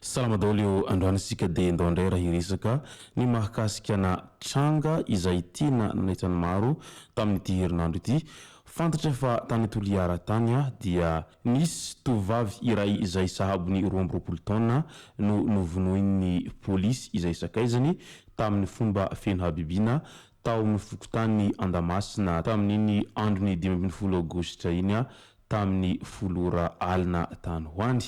Salama daholo eo, androany isika dia ndao indray raha hiresaka ny mahakasika ana tranga izay tena nanaitra ny maro tamin'ity herinandro ity. Fantatra fa tany Toliara tany dia nisy tovovavy iray izay sahabo ny roa amby roapolo taona no novonoin'ny polisy izay sakaizany tamin'ny fomba feno habibiana tao amin'ny fokontany Andamasina tamin'iny andron'ny dimy ambin'ny folo aogositra iny tamin'ny folo ora alina tany ho any,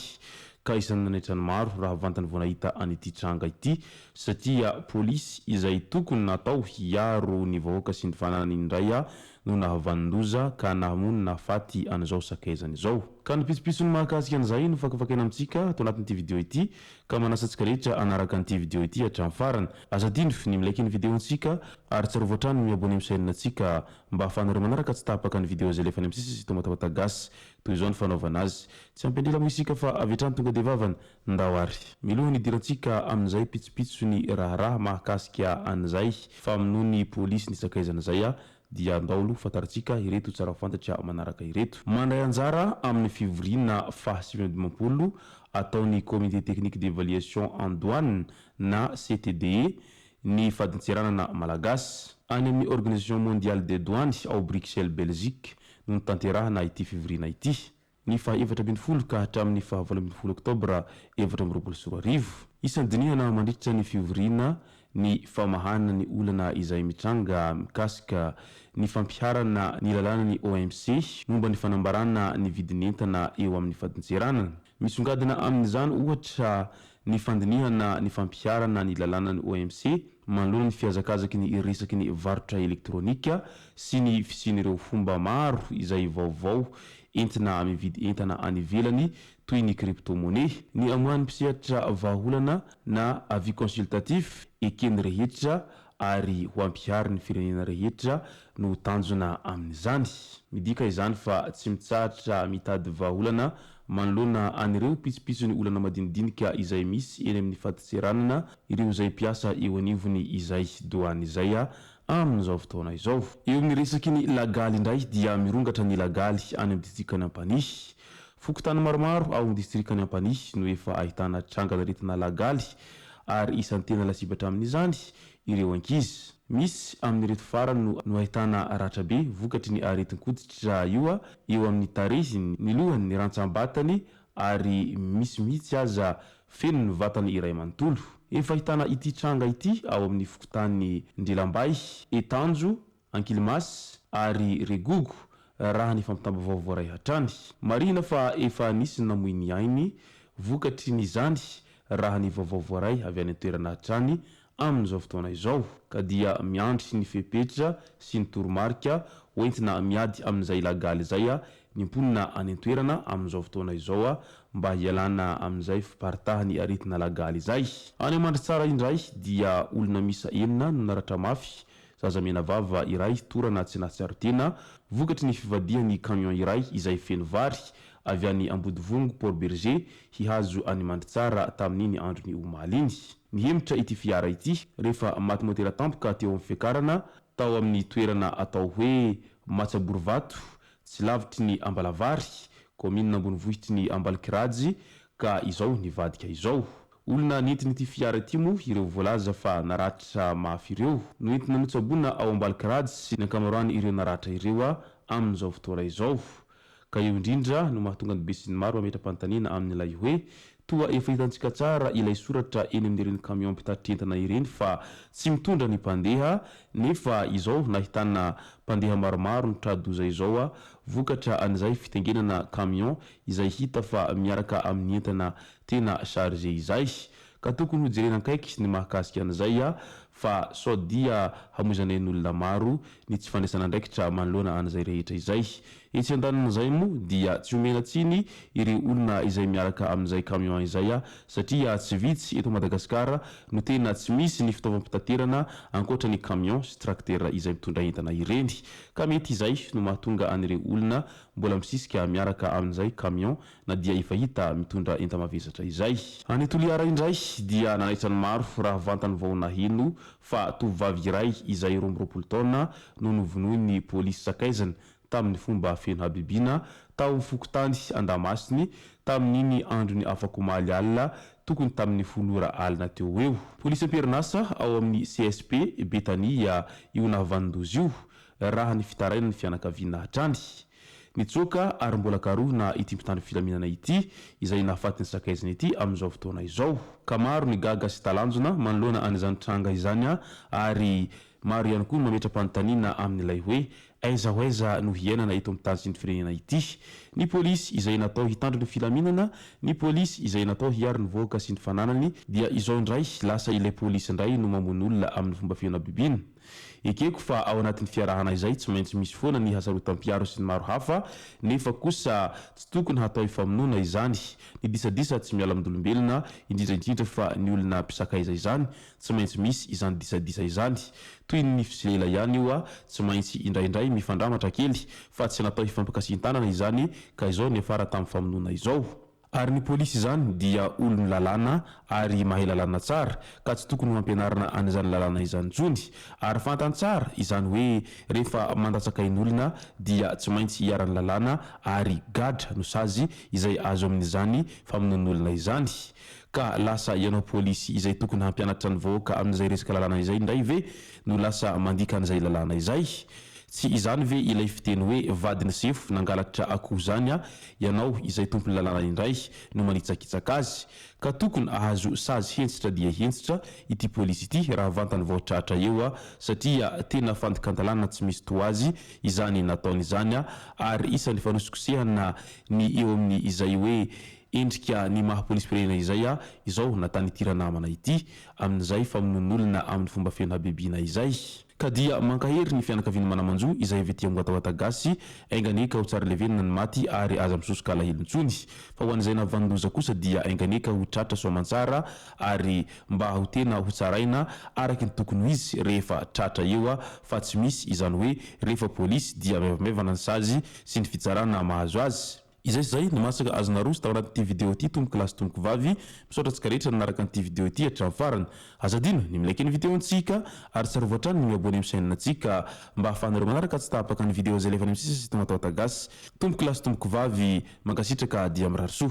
ka isan'ny nanaitra ny maro raha vantany vao nahita an'ity tranga ity, satria polisy izay tokony natao hiaro ny vahoaka sy ny fananany indray no nahavanon-doza ka nahamono ny nahafaty an'izao sakaizany izao. Ka ny pitsopitsony mahakasika an'izay no fakafakaina amintsika ato anatin'ity video ity, ka manasa antsika rehetra hanaraka an'ity video ity hatramin'ny farany. Aza adino ny mi-like ny video-ntsika, ary tsarovy hatrany ny mi-abonner amin'ny chaîne-ntsika Mba ahafahanareo manaraka tsy tapaka ny video izay alefany amin'ny sisisy tomatomata gasy, toy izao ny fanaovana azy. Tsy ampy an-drira moa isika fa avy hatrany tonga dia vavany. Ndao ary! Miloha ny hidirantsika amin'izay pitsopitso ny raharaha mahakasika an'izay famonoan'ny polisy ny sakaizana izay aho, dia ndao aloha fantarintsika ireto tsara fantatra manaraka ireto. Mandray anjara amin'ny fivoriana faha sivy amby dimampolo ataon'ny Comité Technique d'Evaluation en Douane na CTDE ny fadintseranana malagasy. Any amin'ny Organisation Mondiale des Douanes ao Bruxelles Belgique no notanterahana ity fivoriana ity, ny faha efatra ambin'ny folo ka hatramin'ny faha valo ambin'ny folo oktobra efatra amby roapolo sy roa arivo. Isan'ny dinihana mandritra ny fivoriana ny famahana ny olana izay mitranga mikasika ny fampiharana ny lalànan'ny OMC momba ny fanambarana ny vidin'entana eo amin'ny fadintseranana. Misongadina amin'izany, ohatra, ny fandinihana ny fampiharana ny lalànan'ny OMC manoloana ny fihazakazaky ny resaky ny varotra elektronika sy ny fisian'ireo fomba maro izay vaovao entina mividy entana any ivelany toy ny crypto-monnaie. Ny amoahan'ny mpisehatra vahaolana na avis consultatif eken'ny rehetra ary ho ampihary ny firenena rehetra no tanjona amin'izany. Midika izany fa tsy mitsahatra mitady vahaolana manoloana an'ireo pitsopitsony olana madinidinika izay misy eny amin'ny fadintseranana ireo izay mpiasa eo anivony izay, Douane izay, amin'izao fotoana izao. Eo amin'ny resaky ny lagaly indray dia mirongatra ny lagaly any amin'ny distrikan'i Ampanihy, Fokontany maromaro ao amin'ny distrikan'i Ampanihy no efa ahitana trangan'aretina lagaly ary isan'ny tena lasibatra amin'izany ireo ankizy. Misy amin'ireto farany no ahitana ratra be vokatry ny aretin-koditra io eo amin'ny tarehiny, ny lohany, ny rantsambatany ary misy mihitsy aza feno ny vatany iray manontolo. Efa ahitana ity tranga ity ao amin'ny fokontany Ndrelambahy, Etanjo, Ankilimass ary Regogo raha ny fampitam-baovao voaray hatrany. Marihina fa efa nisy ny namoy ny ainy vokatry ny izany raha ny vaovao voaray avy any an-toerana hatrany amin'izao fotoana izao ka dia miandry ny fepetra sy ny toromarika ho entina miady amin'izay ilagaly izay ny mponina any an-toerana amin'izao fotoana izao mba hialana amin'izay fiparitahan'ny aretina lagaly izay. Any Mandritsara indray dia olona miisa enina no naratra mafy Zaza menavava iray torana tsy nahatsiaro-tena, vokatry ny fivadihan'ny camion iray izay feno vary, avy any Ambodivongo, Port Bergé, hihazo an'i Mandritsara tamin'iny andron'ny omaly iny. Nihemotra ity fiara ity rehefa maty motera tampoka teo amin'ny fiakarana tao amin'ny toerana atao hoe Matsaborovato, tsy lavitry ny Ambalavary, kaominina ambonivohitry ny Ambalokirajy, ka izao nivadika izao. Olona nentin'ity fiara ity moa ireo voalaza fa naratra mafy ireo. Noentina notsaboina ao Ambalikarads ny ankamaroan' ireo naratra ireo amin'izao fotoana izao. Ka io indrindra no mahatonga ny besinimaro mametra-panontaniana amin'ilay hoe, toa efa hitantsika tsara ilay soratra eny amin'ireny kamiao mpitatitra entana ireny fa tsy mitondra ny mpandeha nefa izao nahitana mpandeha maromaro nitra-doza izao vokatra an'izay fitengenana kamiao izay hita fa miaraka amin'ny entana Tena chargé izay ka tokony ho jerena akaiky ny mahakasika an'izay a! fa sao dia hamoizanay ny olona maro ny tsy fandraisana andraikitra manoloana an'izay rehetra izay. Etsy andanin'izay moa dia tsy omena tsiny ireo olona izay miaraka amin'izay camion izay a! satria tsy vitsy eto Madagasikara no tena tsy misy ny fitaovam-pitaterana ankoatra ny camion sy tracteur izay mitondra entana ireny ka mety izay no mahatonga an'ireo olona mbola misisika miaraka amin'izay camion na dia efa hita mitondra enta-mavesatra izay. Any Toliara indray dia nanaitra ny maro raha vantany vao naheno fa tovovavy iray izay roa amby roapolo taona no novonoin'ny polisy sakaizany tamin'ny fomba feno habibiana tao amin'ny fokontany Andamasiny tamin'iny andron'ny afakomaly alina tokony tamin'ny folo ora alina teo ho eo. Polisy am-perinasa ao amin'ny CSP Betania io nahavanon-doza io raha ny fitarainan'ny fianakaviana hatrany. Nitsoaka ary mbola karohina ity mpitandro filaminana ity izay nahafaty ny sakaiziny ity amin'izao fotoana izao, ka maro ny gaga sy talanjona manoloana an'izany tranga izany ary maro ihany koa no mametra-panontaniana amin'ilay hoe aiza ho aiza no hiainana eto amin'ny tany sy ny firenena ity ny polisy izay natao hitandro ny filaminana, ny polisy izay natao hiaro ny vahoaka sy ny fananany dia izao indray lasa ilay polisy indray no mamono olona amin'ny fomba fihanabibiana. Ekeko fa ao anatin'ny fiarahana izay tsy maintsy misy foana ny hasarotam-piaro sy ny maro hafa, nefa kosa tsy tokony hatao hifamonoana izany. Ny disadisa tsy miala amin-dolombelona, indrindra indrindra fa ny olona mpisakaiza izany, tsy maintsy misy izany disadisa izany. Toy ny nify sy lela ihany io, tsy maintsy indraindray mifandramatra kely, fa tsy natao hifampikasihan-tanana izany ka izao niafara tamin'ny famonoana izao. Ary ny polisy izany dia olon lalàna ary mahay lalàna tsara ka tsy tokony ho ampianarina an'izany lalàna izany intsony. Ary fantany tsara izany hoe rehefa mandatsakain'olona dia tsy maintsy hiaran'ny lalàna ary gadra no sazy izay azo amin'izany famonoan'olona izany. Ka lasa ianao polisy izay tokony hampianatra ny vahoaka amin'izay resaka lalàna izay indray ve no lasa mandika an'izay lalàna izay? Tsy izany ve ilay fiteny hoe vadin'i sefo nangalatra akoho izany a Ianao izay tompon'ny lalàna indray no manitsakitsaka azy ka tokony ahazo sazy hentsitra dia hentsitra ity polisy ity raha vantany vao tratra eo a! satria tena fandikan-dalàna tsy misy toa azy izany nataony izany a! ary isan'ny fanosikosehana ny eo amin'ny izay hoe endrika ny maha polisim-pirenena izay a! izao nataan'ity ranamana ity amin'izay famonoan'olona amin'ny fomba feno habibiana izay. Ka dia mankahery ny fianakavian'i Manamanjo izay avy aty Amboatawata Gasy, enga anie ka ho tsara levenina ny maty ary aza misosoka alahelo intsony. Fa ho an'izay navanon-doza kosa dia enga anie ka ho tratra soa aman-tsara ary mba ho tena ho tsaraina araky ny tokony ho izy rehefa tratra eo fa tsy misy izany hoe rehefa polisy dia maivamaivana ny sazy sy ny fitsarana mahazo azy. Izay sy izay no masaka azo naroso tao anatin'ity video ity tompoko lahy sy tompoko vavy. Misaotra antsika rehetra nanaraka an'ity video ity hatramin'ny farany. Aza adino ny mi-like ny video ntsika ary tsarovy hatrany ny mi-abonner amin'ny chaîne ntsika mba hahafahanareo manaraka tsy tapaka ny video izay alevany amin'ny sisa sy tonga tao Atagasy. Tompoko lahy sy tompoko vavy, mankasitraka dia mirary soa.